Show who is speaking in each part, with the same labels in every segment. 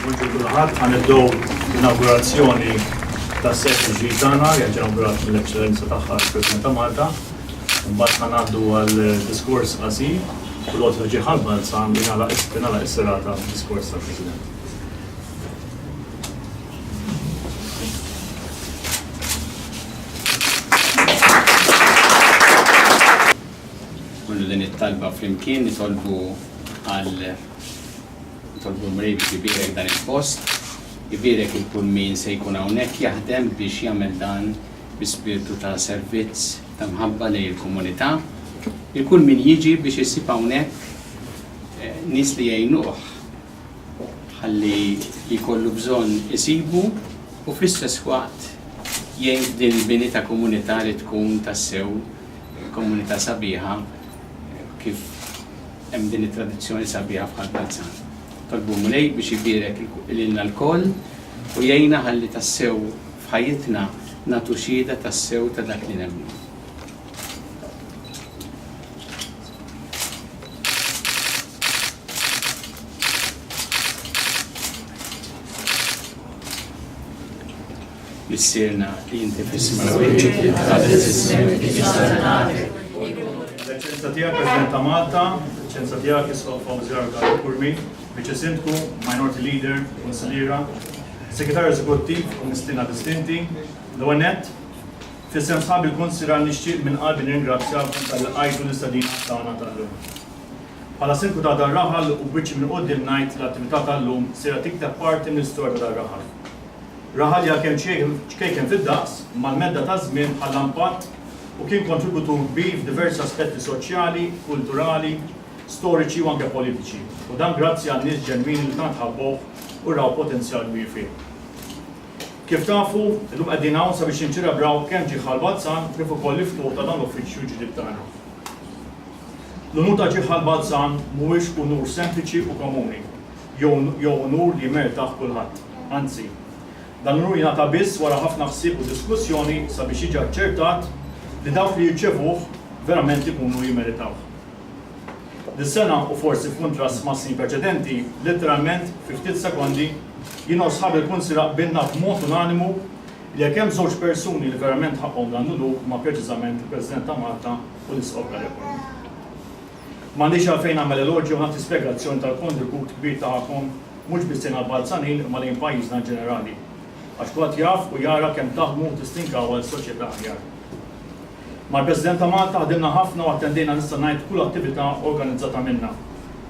Speaker 1: Buongiorno kulħadd, ħa nibdew l-inaugurazzjoni tas-set ġdid tagħna li qed inaugurat mill-Eċċellenza tagħha l-President ta' Malta. Imbagħad ħa ngħaddu għal diskors qasir u l-għod li ġie ħalbal sa li nagħlaq is-serata b'diskors tal-President.
Speaker 2: nagħmlu din it-talba flimkien nitolbu għal nitolbu l-Mulej biex ibierek dan il-post, ibierek il kull min se jkun hawnhekk jaħdem biex jagħmel dan bi spirtu ta' servizz ta' mħabba lejn il-komunità. Il kull min jiġi biex isib hawnhekk eh, nies li jgħinuh ħalli li kollu bżonn isibu u fl-istess waqt jgħin din il-bini ta' komunità li tkun tassew Komunità sabiħa kif hemm din it-tradizzjoni sabiħa f'Ħal Balzan. Tolbu l-Mulej biex ibierek lilna lkoll u jgħinna ħalli tassew f'ħajjitna nagħtu xhieda tassew ta' dak li nemmnu. Missierna li inti fis-Smewwiet.
Speaker 1: L-Eċċellenza Tiegħek President ta' Malta, Eċċellenza Tiegħek Isqof Fawzi Arga Kurmi, Viċi Sindku, Minority Leader, Kunsilliera, Segretarju Eżekuttiv u Mistiedna Distinti, l-ewwel nett, f'isem sħabi l-Kunsilra nixtieq minn qalbi nirringrazzjakom talli lqajtu l-istedina tagħna tal-lum. Bħala Sindku ta' dar-raħal u b'wiċċi minn quddiem ngħid li l-attività tal-lum sejra tikteb parti mill-istorja ta' dar-raħal. Raħal li għalkemm ċkejken fid-daqs, mal-medda taż-żmien ħalla impatt u kien kontributur kbir f'diversi aspetti soċjali, kulturali, storiċi u anke politiċi, u dan grazzi għan-nies ġenwini li tant ħabbowh u raw potenzjal kbir fih. Kif tafu, illum qegħdin hawn sabiex niċċelebraw kemm Ġieħ Ħal-Balzan kif ukoll l-iftuħ ta' dan l-uffiċċju l-ġdid tagħna. L-unur ta' Ġieħ Ħal-Balzan mhuwiex unur sempliċi u komuni. jew unur li jmertaħ kulħadd. Anzi, dan l-unur jingħata biss wara ħafna ħsieb u diskussjoni sabiex jiġi aċċertat li dawk li jirċevuh verament ikunu jimmeritawh. Dis-sena, u forsi f'kuntrast mas-snin preċedenti, litteralment fi ftit sekondi, jiena u sħabi l-Kunsila qbilna b'mod unanimu li jekk hemm żewġ persuni li verament ħaqqhom dan l-unur huma preċiżament il-President ta' Malta u l-Isqof Galeotti. M'għandix għalfejn nagħmel elogju u nagħti spjegazzjoni tal-kontribut kbir tagħkom mhux biss lejn għall-Balzanin imma lejn pajjiżna inġenerali. Għax kulħadd jaf u jara kemm taħdmu u tistinkaw għal soċjetà aħjar. Mal-President ta' Malta ħdimna ħafna u attendejna nista' ngħid kull attività organizzata minna.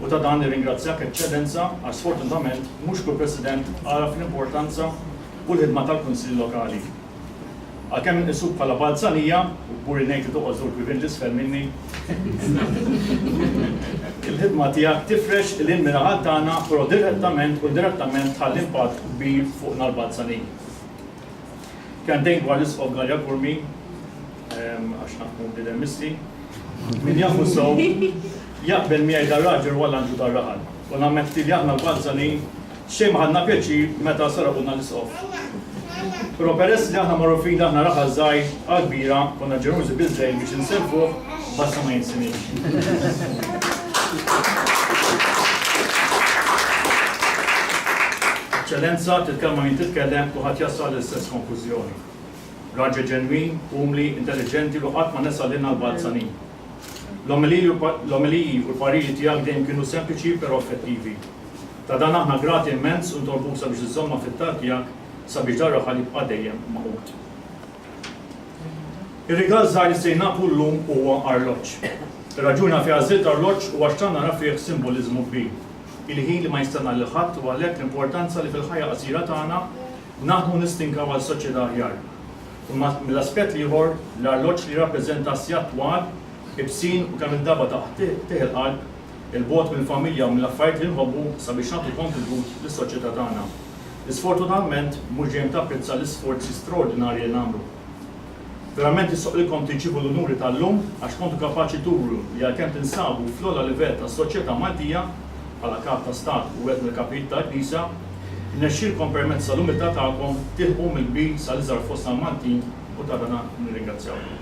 Speaker 1: U ta' dan nirringrazzjak Eċċellenza għax sfortunatament mhux kull President għaraf l-importanza u l-ħidma tal-Kunsill Lokali. Għalkemm inqisuk bħala balzanija, u kburi ngħid li toqgħod żewġ bibien 'l isfel minni, il-ħidma tiegħek tifrex 'il hinn min-naħat tagħna, però direttament u indirettament tħalli impatt kbir fuqna l-balzaniji. Kelmtejn dwar l-Isqof Galea Curmi, għax naf kemm hu bniedem misti. Min jafu sew, jaqbel miegħi dan raġel huwa l-anġlu tar-raħal. U nammetti li aħna l-balzaniji Xejn ma ħadna pjaċir meta saraqulna l-isqof. Però peress li aħna magħrufin li aħna raħal żgħir għal kbira, konna ġenerużi biżżejjed biex insellfuh b'għassa ma jinsiniex. Eċċellenza, titkellma min titkellem, kulħadd jasal għall-istess konklużjoni. Raġel ġenwin, umli, intelliġenti u li qatt ma nesa lilna l-balzanin. L-omeliji u l-pariri tiegħek dejjem kienu sempliċi però effettivi. Ta' dan aħna grati immens u ntolbuk sabiex iżżommna fit-talb tiegħek sabiex dan raħal jibqa' dejjem magħqud. Ir-rigal żgħir li se jnaqqlu llum huwa arloġġ. Ir-raġuni għalfejn għażilt arloġġ huwa x'tant nara fih simboliżmu kbir. Il-ħin li ma jistenna lil ħadd u għalhekk l-importanza li fil-ħajja qasira tagħna naħdmu nistinkaw għal soċjetà aħjar. Imma mill-aspett l-ieħor, l-arloġġ li jirrappreżenta s-sigħat twal, ibsin u kemm-il darba ta' qtigħ il-qalb, 'il bogħod mill-familja u mill-affarijiet li nħobbu sabiex nagħtu kontribut lis-soċjetà tagħna. Isfortunatament, mhux dejjem tapprezza l-isforzi straordinarji li nagħmlu. Verament jistoqlilkom tirċievu l-unuri tal-lum għax kontu kapaċi turu li għalkemm tinsabu fl-ogħla livell tas-soċjetà Maltija, bħala Kap ta' Stat u wieħed mill-Kapijiet tal-Knisja, irnexxielkom permezz tal-umiltà tagħkom tilħqu mill-kbir sal-iżgħar fostna l-Maltin u ta' dan nirringrazzjawkom.